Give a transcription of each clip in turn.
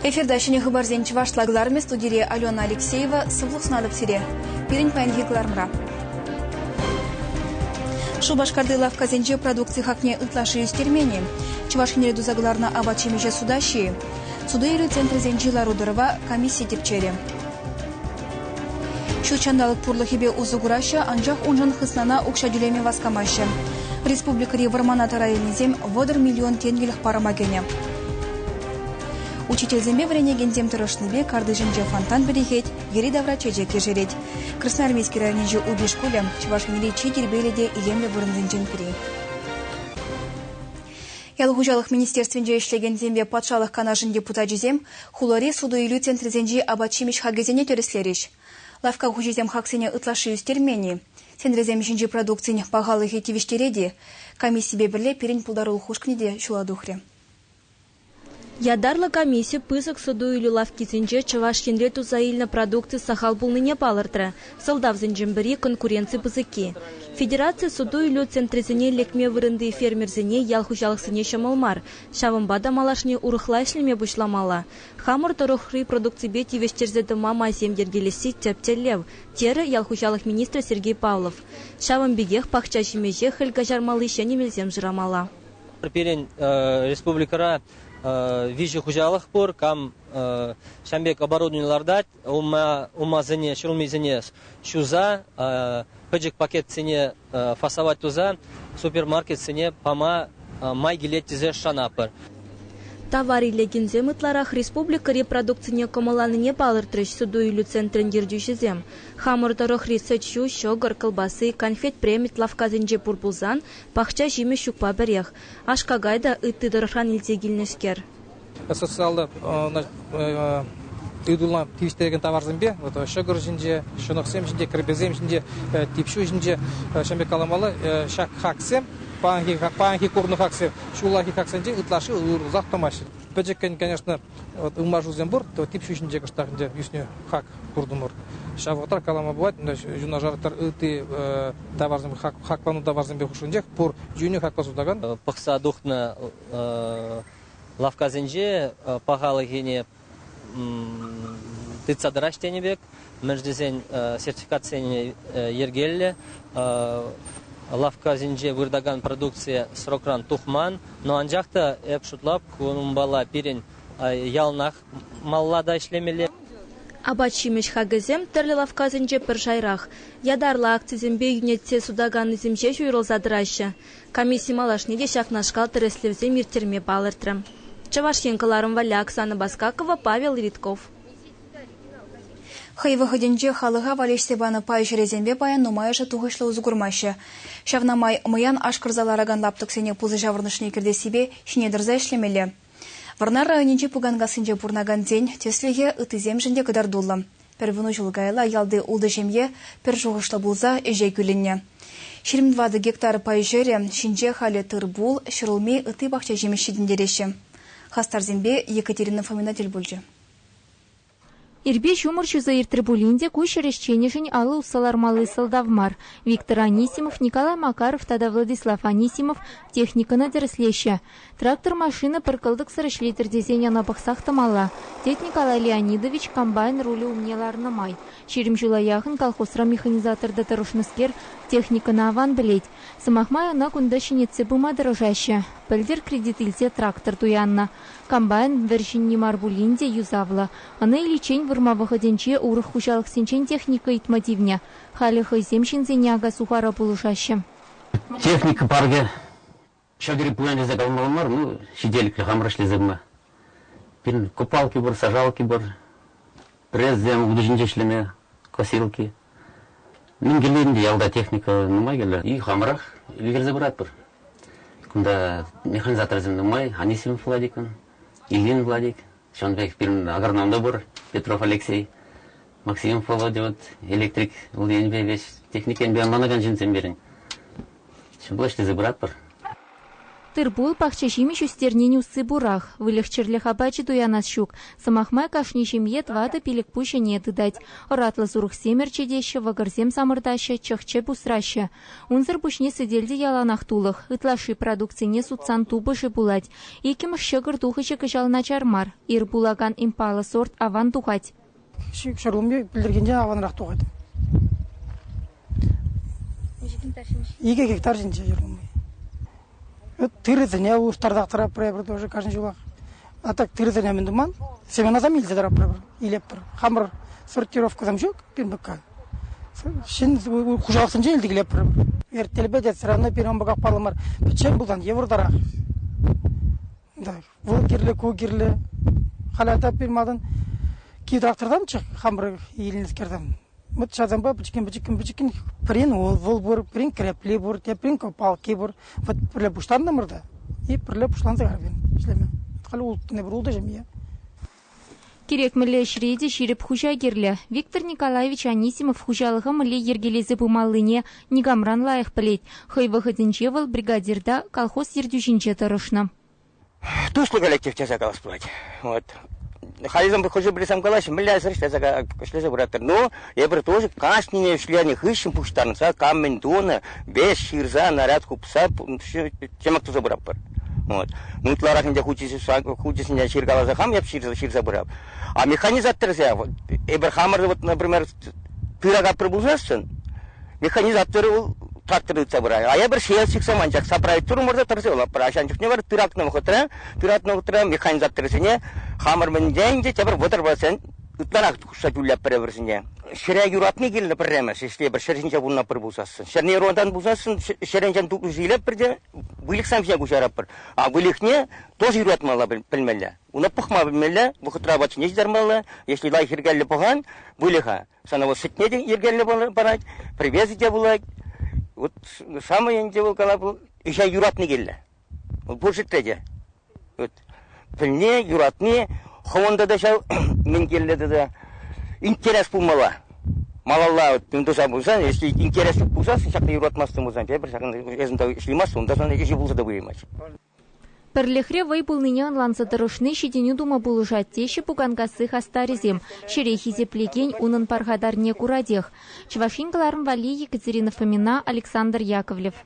Эфирта ҫӗнӗ хыпарсем чӑвашла кӑлармӗ студире Алена Алексеева. Сывлӑх сунатӑп сире. Пирӗн паянхи кӑларӑмра. Шупашкарти лавккасенче продукци хакне ытлашши ӳстермен-и? Чӑваш Енре туса кӑларнӑ апат-ҫимӗҫе суда ҫи-и? Суту-илӳ центрӗсенчи лару-тӑрӑва комисси тӗпчерӗ. Ҫут ҫанталӑк пурлӑхӗпе усӑ кураҫҫӗ, анчах уншӑн хыснана укҫа тӳлеме васкамаҫҫӗ. Республикӑри вӑрмана тӑра илнисем вӑтӑр миллион тенкӗлӗх парӑма кӗнӗ. Учительсемпе вӗренекенсем тӑрӑшнипе картишӗнче фонтан пӗрӗхет, йӗри-тавра чечек ешерет. Красноармейски районӗнчи Уби шкулӗ Чӑваш Енри чи тирпейлӗ те илемлӗ вырӑнсенчен пӗри. Ял хуҫалӑх министерствинче ӗҫлекенсемпе патшалӑх канашӗн депутачӗсем хулари суту-илӳ центрӗсенчи апат-ҫимӗҫ хакӗсене тӗрӗслерӗҫ. Лавкка хуҫисем хаксене ытлашши ӳстермен-и, Сентресем ҫинчи продукцин пахалӑхӗ тивӗҫтерет-и, комиссипе пӗрле пирӗн пултарулӑх ушкӑнӗ те ҫула тухрӗ. Ятарлӑ комисси пысӑк суту-илӳ лавккисенче Чӑваш Енре туса илнӗ продукци сахал пулнине палӑртрӗ. Сӑлтавсенчен пӗри, конкуренци пысӑкки. Федераци суту-илӳ центрӗсене лекме вырӑнти фермерсене, ял хуҫалӑхсене ҫӑмӑл мар, Ҫавӑнпа та малашне урӑхла ӗҫлеме пуҫламалла. Хамӑр тӑрӑхри продукципе тивӗҫтерсе тӑма майсем йӗркелесси тӗп тӗллев, терӗ ял хуҫалӑх министрӗ Сергей Павлов. Ҫавӑн пекех пахча ҫимӗҫе хӗл каҫармалли ҫӗнӗ мелсем шырамалла. Пирӗн республикӑра виҫӗ хуҫалӑх пур, кам ҫан пек оборудовани лартать, Улмасене, ҫурӑмӗсене ҫуса пӗчӗк пакетсене фасовать туса супермаркетсене пама май килет тесе шанатпӑр. Тавар иле кинсем ытларах республикӑри продукцине кӑмӑлланине палӑртрӗҫ суту-илӳ центрӗн ертӳҫисем. Хамӑр тӑрӑхри сӗт-ҫу, ҫӑкӑр, кӑлпасси, конфет-премит лавккасенче пур пулсан, пахча ҫимӗҫ ҫукпа пӗрех. Аш-какай та ытти тӑрӑхран илсе килнӗскер. социаллӑ ыйтула тивӗҫтерекен таварсемпе вот, ҫӑкӑр ҫинче, ҫӑнӑхсем ҫинче, кӗрпесем ҫинче, типҫу ҫинче ҫӗнпе каламалла ҫак хаксем паянхи, паянхи курнӑ хаксем ҫуллахи хаксенче ытлашши уйрӑлсах тӑмаҫҫӗ. Пӗчӗккӗн, конечно, вот ылмашусем пур, то типҫу ҫинче кӑштах ӗнтӗ ӳснӗ хак куртӑмӑр. Ҫав вӑхӑтра калама пулать, юнашар ытти таварсем, хаклану таварсемпе хушшинчех пур йӳнӗ хакпа сутакан. Пӑхса тухнӑ лавккасенче пахалӑхӗне тытса тӑраҫ тенӗ пек, мӗн тесен сертификатсене йӗркеллӗ, лавккасенче выртакан продукцие срокран тухман, но анчах та эп шутлап, кунпала пирӗн яланах малла та ӗҫлемелле. Апат-ҫимӗҫ хакӗсем тӗрлӗ лавккасенче пӗр шайрах. Ятарлӑ акцисемпе йӳнетсе сутаканнисем ҫеҫ уйрӑлса тӑраҫҫӗ. Комисси малашне те ҫакнашкал тӗрӗслевсем ирттерме палӑртрӗ. Чӑваш Ен кӑларӑм валли Оксана Баскакова, Павел Левитков. Хӑй вӑхӑтӗнче халӑха валеҫсе панӑ пай ҫӗрӗсемпе паян нумайӑшӗ тухӑҫлӑ усӑ курмаҫҫӗ. Ҫавна май мӑян ашкӑрса ларакан лаптӑксене пусӑ ҫаврӑнӑшне кӗртессипе ҫине тӑрса ӗҫлемелле. Вӑрнар районӗнчи Пуканкассинче пурӑнакансен тӗслӗхӗ ыттисемшӗн те кӑтартуллӑ. Пӗр вунӑ ҫул каялла ялти ултӑ ҫемье пӗр шухӑшлӑ пулса ӗҫе кӳлӗннӗ. Ҫирӗм тӑватӑ гектар пай ҫӗрӗ ҫинче халӗ тыр-пул, ҫӗрулми, ытти пахча ҫимӗҫ ҫитӗнтереҫҫӗ. Хастарсемпе Екатерина Фомина тӗл пулчӗ. Ирпе ҫумӑр ҫуса иртрӗ пулин те ку ҫӗр ӗҫченӗшӗн алӑ усса лармалли сӑлтав мар. Виктор Анисимов, Николай Макаров тата Владислав Анисимов техникӑна тӗрӗслеҫҫӗ. Трактор-машина пӗр кӑлтӑксӑр ӗҫлетӗр тесен ӑна пӑхсах тӑмалла, тет Николай Леонидович комбайн рулӗ умне ларнӑ май. Ҫирӗм ҫула яхӑн колхозра механизаторта тӑрӑшнӑскер техникӑна аван пӗлет. Сӑмах май ӑна кунта ҫӗнетсе пыма тӑрӑшаҫҫӗ. Пӗлтӗр кредит илсе трактор туяннӑ. Комбайн вӗр ҫынни мар пулин те юсавлӑ. Ӑна иличчен вырма вӑхӑтӗнче урӑх хуҫалӑхсенчен техника ыйтма тивнӗ. Халӗ хӑйсем ҫынсене ака-сухара пулӑшаҫҫӗ. Техника паркӗ ҫӑкӑрӗ пуян тесе калмалла мар, ну, ҫителӗклӗ хамӑр ӗҫлесе пыма. Пирӗн купалки пур, сажалки пур, пресссем, утӑ ҫинче ӗҫлеме, косилки. Мӗн кирлӗ ялта техника нумай кирлӗ. И хамӑрах ӗлкӗрсе пыратпӑр. Кунта механизаторсем нумай. Анисим Владикӑн, Ильин Владик. Ҫавӑн пек пирӗн агроном та пур, Петров Алексей. Максимов Володя вот электрик, вӑл енӗпе веҫ техник енпе ӑнланакан ҫынсем пирӗн. Ҫӑмӑл ӗҫлесе пыратпӑр. Тыр-пул, пахча-ҫимӗҫ ӳстернин усси пурах. Выльӑх-чӗрлӗх апачӗ туянас ҫук. Сӑмах май, кашни ҫемье тӑватӑ пилӗк-пуҫ ӗне тытать. Ӑратлӑ сурӑхсем ӗрчетеҫҫӗ, вӑкӑрсем самӑртаҫҫӗ, чӑх-чӗп усраҫҫӗ. Унсӑр пуҫне сӗтел те яланах тулӑх. Ытлашши продукцине сутсан тупӑшӗ пулать. Иккӗмӗш ҫӑкӑр тухӑҫӗ кӑҫал начар мар. Ир пулакан импалӑ сорт аван тухать. Ҫивӗч ырлӑмне пӗлтӗркинчен аванрах тухать. Икӗ гектар ҫинче. Икӗ гектар ҫинче ырлӑмли. Тырӑсене улӑштартах тӑраппӑр эпир тоже каждый ҫулах. А так тырӑсене мӗн туман? Семенасам илсе тӑраппӑр илеппӗр. Хамӑр сортировкӑсем ҫук пирӗн пекка. Ҫын хуҫалӑхсенче илтӗклеппӗр. Эртелпе те сӑрана пирӗн пеках паллӑ мар. Пӗччен пулсан йывӑртарах. Так. Вӑл кирлӗ, ку кирлӗ. Халӗ таппи малтан кит автортамччӗ, хамӑр илнӗ кертӗм. Вот ҫавсанпа пӗчӗккӗн-пӗчӗккӗн-пӗчӗккӗн пӗрин вӑл пур, пӗрин крепли пур, теприн палки пур. Вот пӗрле пуҫланнӑмӑр та и пӗрле пуҫланса карапин ӗҫлеме. Халь улттӑн эпир ултӑ ҫемье. Кирек мӗнле ӗҫре те ҫирӗп хуҫа кирлӗ. Виктор Николаевич Анисимов хуҫалӑха мӗнле йӗркелесе пымаллине никамран лайӑх пӗлет. Хӑй вӑхӑтӗнче вӑл бригадирта, колхоз ертӳҫинче тӑрӑшнӑ. туслӑ коллектив тесе калас пулать. Вот. Халисем хӑшӗ пӗри сам калаҫҫӗ, мӗнлесӗр ӗҫлесе пыратӑр. Ну, эпир тоже кашнине ӗҫленӗ хыҫҫӑн пуҫтарӑнса кам мӗн тунӑ, вес ҫырса, наряд хупса тема туса пыратпӑр. Вот. Ну, ытларах ӗнтӗ хучӗсене ҫыркаласа хам эп ҫырса пырап. А механизаторсем, эпир хамӑр, вот, например, Пырак аппӑр пулсассӑн механизаторӗ вӑл трактор тытса пырать. А эпир ҫиес чиксем анчах сопроектурӑмӑр та тӑрса улатпӑр. Ачан чухне вара тыратнӑ вӑхӑтра тыратнӑ вӑхӑтра механизаторсене хамӑр мӗнле ӗнтӗ тепӗр вӑтӑрпа ытларах хушса тӳллетпӗр вӗсене. Ҫӗре юратни килнӗ пӗрремӗш, если эпир ҫӗр ҫинче пурӑнатпӑр пулсассӑн. Ҫӗрне юратан пулсассӑн ҫӗрӗнчен тупӑш илетпӗр те выльӑхсем ҫине куҫаратпӑр. А выльӑхне тоже юратмалла пӗлмелле. Уна пӑхма пӗлмелле, вӑхӑтра апатсене ҫитармалла. Если лайӑх йӗркеллӗ пӑхан, выльӑха, ӑна вӑл сӗтне те йӗркеллӗ парать, привезӗ те пулать. Вот самое ӗнтӗ вӑл кала вӑл ӗҫа юратни килнӗ. Вӑл пур ҫӗртре те. Вот. Пӗлни, юратни, хӑвӑнта та ҫав мӗн килнӗ тата интерес пулмалла. Малалла вот, тунтуса пулсан, если интерес пулсан, ҫакна юратмастан пулсан, тепӗр ҫакна эсӗн та ӗҫлемастӑн, унта сан ӗҫе пулса та пымасть. Пӗрлӗхре вӑй пулнине ӑнланса тӑрӑшни ҫитӗнӳ тума пулӑшать, теҫҫӗ Пуканкасси хастарӗсем. Ҫӗре хисеплекен унӑн пархатарне куратех. Чӑваш Ен кӑларӑм валли Екатерина Фомина, Александр Яковлев.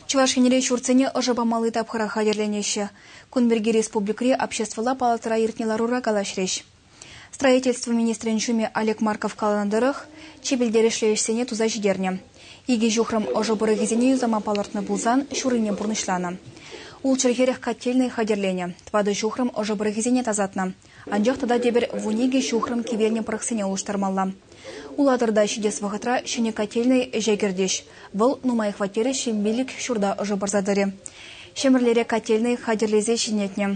Чӑваш Енре ҫуртсене ӑшӑ памалли тапхӑра хатӗрленеҫҫӗ. Кун пирки республикӑри обществӑлла палатӑра иртнӗ ларура калаҫрӗҫ. Строительство министрӗн ҫумӗ Олег Марков каланӑ тӑрӑх, чи пӗлтерӗшлӗ ӗҫсене туса ҫитернӗ. Икӗ ҫухрӑм ӑшӑ пӑрӑхӗсене юсама палӑртнӑ пулсан ҫуррине пурнӑҫланӑ. Ултҫӑр-хӗрӗх котельнӑй хатӗрленӗ, тӑватӑ ҫухрӑм ӑшӑ пӑрӑхӗсене тасатнӑ. Анчах тата тепӗр вун-икӗ ҫухрӑм кивелнӗ пӑрӑхсене улӑштармалла. Улатӑрта ҫитес вӑхӑтра ҫӗнӗ котельнӑй ӗҫе кӗртӗҫ. Вӑл нумай хваттерӗ ҫемьелӗх ҫурта ӑшӑ парса тӑрӗ. Ҫӗмӗрлере котельнӑй хатӗрлесе ҫӗнетнӗ.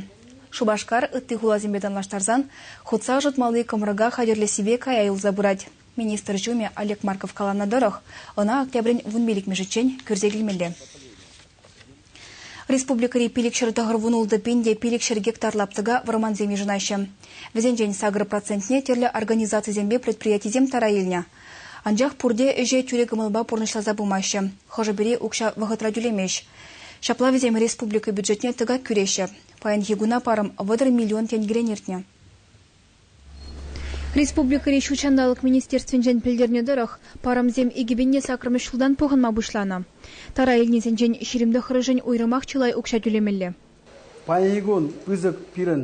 Шупашкар, ытти хуласемпе танлаштарсан, хутса ӑшӑтмалли кӑмрӑка хатӗрлессипе кая юлса пырать. Министр ҫумӗ Олег Марков каланӑ тӑрӑх, ӑна октябрӗн вун пилӗкмӗшӗччен кӳрсе килмелле. Республикӑри пилӗкҫӗр тӑхӑр вун ултӑ пин те пилӗкҫӗр гектар лаптӑка вӑрмансем йышӑнаҫҫӗ. Вӗсенчен сакӑр процентне тӗрлӗ организацисемпе предприятисем тара илнӗ. Анчах пурте ӗҫе тӳрӗ кӑмӑлпа пурнӑҫласа пымаҫҫӗ, хӑшӗ-пӗри укҫа вӑхӑтра тӳлемест. Ҫапла вӗсем республика бюджетне тӑкак кӳреҫҫӗ. Паянхи куна парӑм вӑтӑр миллион тенкӗрен иртнӗ. Республикӑри ҫут ҫанталӑк министерствинчен пӗлтернӗ тӑрӑх, парӑмсем икӗпенне саккӑрмӗш ҫултан пухӑнма пуҫланӑ. Тара илнисенчен ҫирӗм тӑххӑрӗшӗн уйрӑмах чылай укҫа тӳлемелле. Паянхи кун пысӑк пирӗн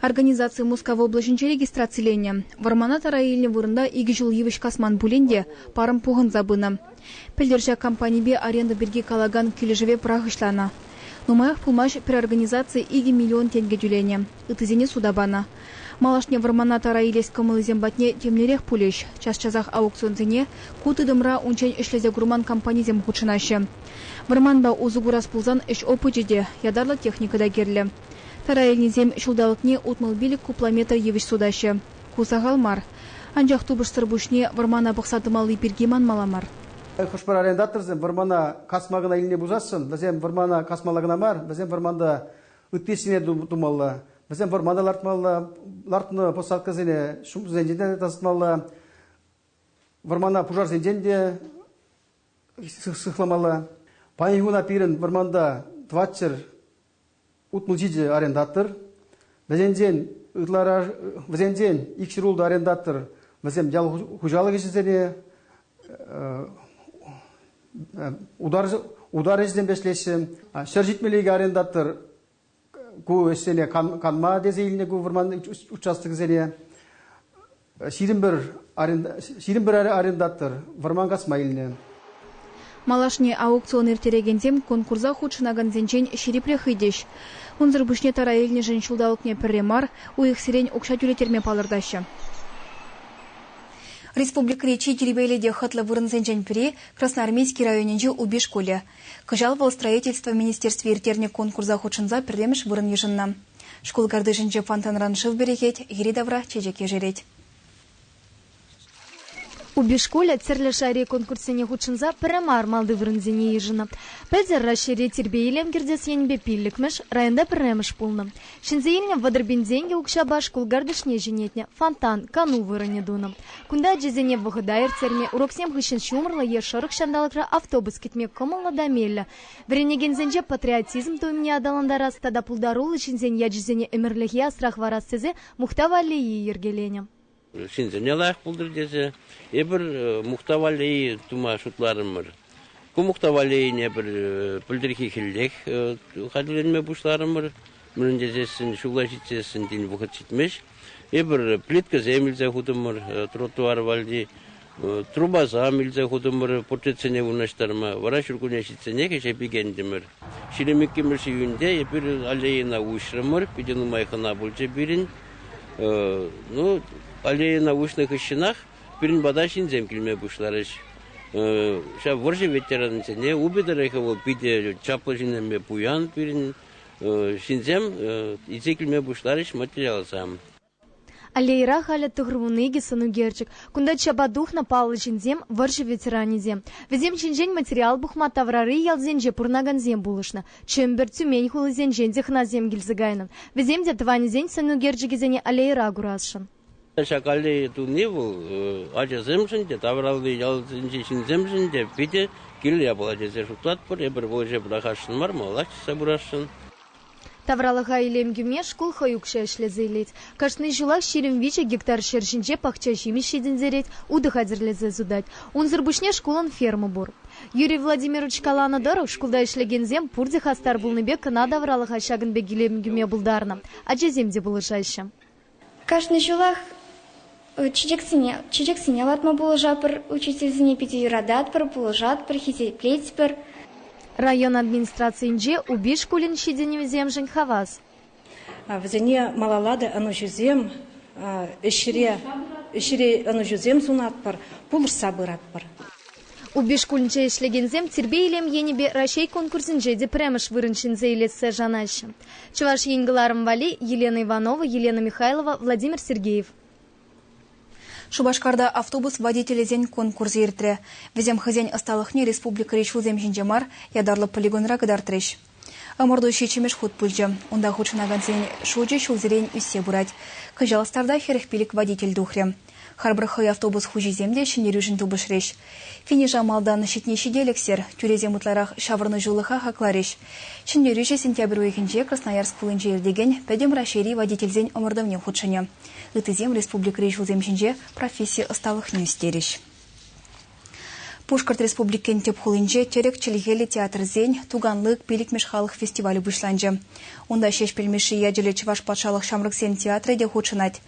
Организаци Мускав облаҫӗнче регистрациленӗ. Вӑрмана тара илнӗ вырӑнта икӗ ҫул йывӑҫ касман пулин те парӑм пухӑнса пынӑ. Пӗлтӗр ҫак компанипе аренда пирки калакан килӗшӗве пӑрахӑҫланӑ. Нумаях пулмасть пӗр организаци икӗ миллион тенкӗ тӳленӗ, ыттисене суда панӑ. Малашне вӑрмана тара илес кӑмӑлӗсем патне темлерех пулӗҫ, час-часах аукционсене ку тытӑмра унччен ӗҫлесе курман компанисем хутшӑнаҫҫӗ. Вӑрманпа усӑ курас пулсан ӗҫ опычӗ те, ятарлӑ техника та кирлӗ. Тӑрайӗннисем ҫулталӑкне утмӑл пилӗк кубометр йывӑҫ сутаҫҫӗ. Ку сахал мар. Анчах тупӑшсӑр пуҫне вӑрмана пӑхса тӑмалли пирки манмалла мар. Хӑш-пӗр арендаторсем вӑрмана касма кӑна илме пусасшӑн, вӗсем вӑрмана касмалла кӑна мар, вӗсем вӑрманта ытти ӗҫсене тумалла, вӗсем вӑрмана лартмалла, лартнӑ посадкӑсене ҫумсенчен те тасатмалла, вӑрмана пушарсенчен те сыхламалла. Паянхи куна пирӗн вӑрманта тӑватҫӗр утмӑлчи те арендатор, вӗсенчен ытларах вӗсенчен икҫӗруллӑ арендатор вӗсем ял хуҫалӑх ӗҫӗсене утар ӗҫӗсемпе ӗҫлеҫҫӗ. Ҫӗр ҫитмелли икӗ арендатор ку ӗҫсене канма тесе илнӗ ку вӑрман участокӗсене. Ҫирӗм пӗр арендатор вӑрман касма илнӗ. Малашне аукцион ирттерекенсем конкурса хутшӑнакансенчен ҫирӗпрех ыйтӗҫ. Унсӑр пуҫне тара илнӗшӗн ҫулталӑкне пӗрре мар уйӑхсерен укҫа тӳлеттерме палӑртаҫҫӗ. Республикӑри чи тирпейлӗ те хӑтлӑ вырӑнсенчен пӗри, Красноармейски районӗнчи Упи шкулӗ. Кӑҫал вӑл Строительство министерстви ирттернӗ конкурса хутшӑнса пӗрремӗш вырӑн йышӑннӑ. Шкул картишӗнче фонтанран шыв перехет, йӗри-тавра чечек ешерет. Упи-шкулӗ тӗрлӗ шайри конкурссене хутшӑнса пӗрре мар малти вырӑнсене йышӑннӑ. Пӗлтӗр Раҫҫейре тирпей-илем кӗртес енӗпе пиллӗкмӗш, районта пӗрремӗш пулнӑ. Ҫӗнсе илнӗ вӑтӑр пин тенкӗ укҫапа шкул картишне ҫӗнетнӗ, фонтан, кану вырӑнӗ тунӑ. Кунта ачасене вӑхӑта ирттерме, уроксем хыҫҫӑн ҫумӑрлӑ е шӑрӑх ҫанталӑкра автобус кӗтме кӑмӑллӑ та меллӗ. Вӗренекенсенче патриотизм туйӑмне аталантарас тата пултаруллӑ ҫынсен ячӗсене ӗмӗрлӗхе асрах парас тесе мухтав аллейи йӗркеленӗ. Ҫынсене лайӑх пултӑр тесе эпир мухтав аллейи тума шутларӑмӑр. Ку мухтав аллейине пӗр пӗлтӗрхи хӗллех хатӗрленме пуҫларӑмӑр. мӗн тесессӗн ҫулла ҫитсессӗн тин вӑхӑт ҫитмест. Эпир плиткӑсем илсе хутӑмӑр, тротуар валли трубасам илсе хутӑмӑр портретсене вырнаҫтарма. Вара ҫуркунне ҫитсенех ӗҫе пикентӗмӗр. Ҫирӗм иккӗмӗш июньте эпир аллейӑна уҫрӑмӑр. Питӗ нумай хӑна пулчӗ пирӗн. Ну, аллейӑна уҫнӑ хыҫҫӑнах пирӗн пата ҫынсем килме пуҫларӗҫ. Ҫав вӑрҫӑ ветеранӗсене, упӑ тӑрӑхӗ вӑл питӗ чаплӑ ҫыннипе пуян пирӗн. Ҫынсем илсе килме пуҫларӗҫ материалсем. Аллейӑра халӗ тӑхӑрвунӑ икӗ сӑн ӳкерчӗк. Кунта чапа тухнӑ паллӑ ҫынсем, вӑрҫӑ ветеранӗсем. Вӗсем ҫинчен материал пухма таврари ялсенче пурӑнакансем пулӑшнӑ. Чӗмпӗр, Тюмень хулисенчен технасем килсе кайнӑ. Вӗсем те тӑванӗсен сӑн ӳкерчӗкӗсене аллейӑра курасшӑн. Ҫакалли туни вӑл ачасемшӗн те, тавралли ялсенчи ҫынсемшӗн те питӗ кирлӗ япала тесе шутлатпӑр. Эпир вӑл ӗҫе пӑрахасшӑн мар, малалла чышса пырасшӑн. Тавралӑха илем кӳме шкул хӑй укҫа ӗҫлесе илет. Кашни ҫулах ҫирӗм виҫӗ гектар ҫӗр ҫинче пахча ҫимӗҫ ҫитӗнтерет, утӑ хатӗрлесе сутать. Унсӑр пуҫне шкулӑн ферма пур. Юрий Владимирович каланӑ тӑрӑх, шкулта ӗҫлекенсем пурте хастар пулнипе кӑна тавралӑха ҫакӑн пек илем кӳме пултарнӑ. Ачасем те пулӑшаҫҫӗ. Кашни ҫулах чечексене лартма пулӑшатпӑр, учительсене питӗ юрататпӑр, пулӑшатпӑр, хисеплетпӗр. Район администрацийӗнче Упи шкулӗн ҫитӗнӗвӗсемшӗн хавас. Вӗсене малалла та ӑнӑҫусем, ӗҫре ӑнӑҫусем сунатпӑр, пулӑшса пыратпӑр. Упи шкулӗнче ӗҫлекенсем тирпей-илем енӗпе Раҫҫей конкурсӗнче те пӗрремӗш вырӑн ҫӗнсе илессе шанаҫҫӗ. Чӑваш Ен кӑларӑм валли Елена Иванова, Елена Михайлова, Владимир Сергеев. Шупашкарта автобус водителӗсен конкурсӗ иртрӗ. Вӗсем хӑйсен ӑсталӑхне республикӑри ҫулсем ҫинче мар, ятарлӑ полигонра кӑтартрӗҫ. Ӑмӑрту ҫиччӗмӗш хут пычӗ. Унта хутшӑнакансен шучӗ ҫулсерен ӳссе пырать. Кӑҫал старта хӗрӗх пилӗк водитель тухрӗ. Харпӑр хӑй автобус хуҫисем те ҫӗнтерӳшӗн тупӑшрӗҫ. Финиша малтан ҫитни ҫителӗксӗр, тӳресем ытларах ҫаврӑнӑҫулӑха хакларӗҫ. Ҫӗнтерӳҫӗ сентябрь уйӑхӗнче Красноярск хулинче иртекен Пӗтӗм Раҫҫейри водительсен ӑмӑртӑвне хутшӑнӗ. Ыттисем республикӑри ҫулсем ҫинче професси ӑсталӑхне ӳстерӗҫ. Пушкӑрт Республикин тӗп хулинче тӗрӗк чӗлхеллӗ театрсен «Туганлык пилӗкмӗш халӑх фестивалӗ» пуҫланчӗ. Унта Ҫеҫпӗл Мишши ячӗллӗ Чӑваш патшалӑх ҫамрӑксен театрӗ те хутшӑнать.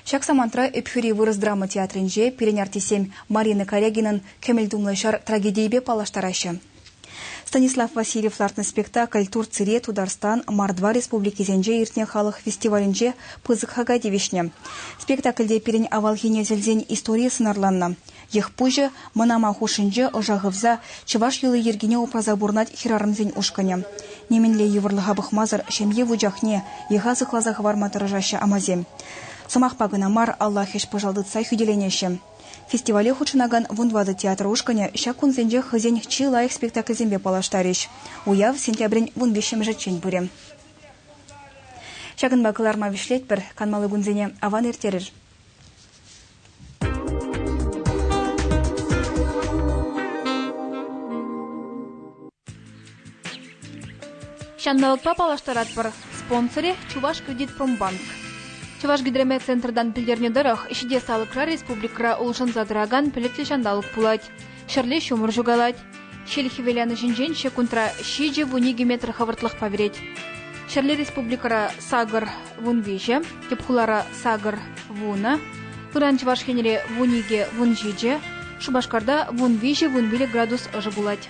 Ҫак самантра Ӗпхӳри вырӑс драма театрӗнче пирӗн артистсем Марина Корягинӑн «Кӗмӗл тумлӑ ҫар» трагедийӗпе паллаштараҫҫӗ. Станислав Васильев лартнӑ спектакль Турцире, Тутарстан, Мордва республикисенче иртнӗ халӑх фестивалӗнче пысӑк хака тивӗҫнӗ. Спектакльте пирӗн авалхине тӗлсен историйӗ сӑнарланнӑ. Йӑхпуҫӗ мӑнама хушшинче ӑша хывса чӑваш йӑли-йӗркине упраса пурӑнать хӗрарӑмсен ушкӑнӗ. Нимӗнле йывӑрлӑха пӑхмасӑр ҫемье вучахне, йӑха сыхласа хӑварма тӑрӑшаҫҫӗ амасем. Сӑмахпа кӑна мар, алла хӗҫ-пӑшал тытса хӳтӗленеҫҫӗ. Фестивале хутшӑнакан Вун ватӑ театр ушкӑнӗ ҫак кунсенче хӑйсен чи лайӑх спектакльсемпе паллаштарӗҫ. Уяв сентябрӗн вун виҫҫӗмӗшӗччен пырӗ. Ҫакӑнпа кӑларма вӗҫлетпӗр. Канмалли кунсене аван ирттерӗр. Ҫанталӑкпа паллаштаратпӑр. Спонсорӗ Чувашкредитпромбанк. Чӑвашгидромет центртан пӗлтернӗ тӑрӑх, ҫитес алӑкра республикӑра улшӑнса тӑракан пӗлӗтлӗ ҫанталӑк пулать. Ҫӗрле ҫумӑр ҫукалать. Ҫил хӗвеланӑҫӗнчен ҫеккунтра ҫичӗ вун икӗ метр хӑвӑртлӑхпа вӗрет. Ҫӗрле республикӑра сакӑр вун виҫӗ, тӗп хулара сакӑр вунӑ, ыран Чӑваш Енре вун икӗ вун ҫичӗ, Шупашкарта вун виҫӗ вун вилӗ градус ӑшӑ пулать.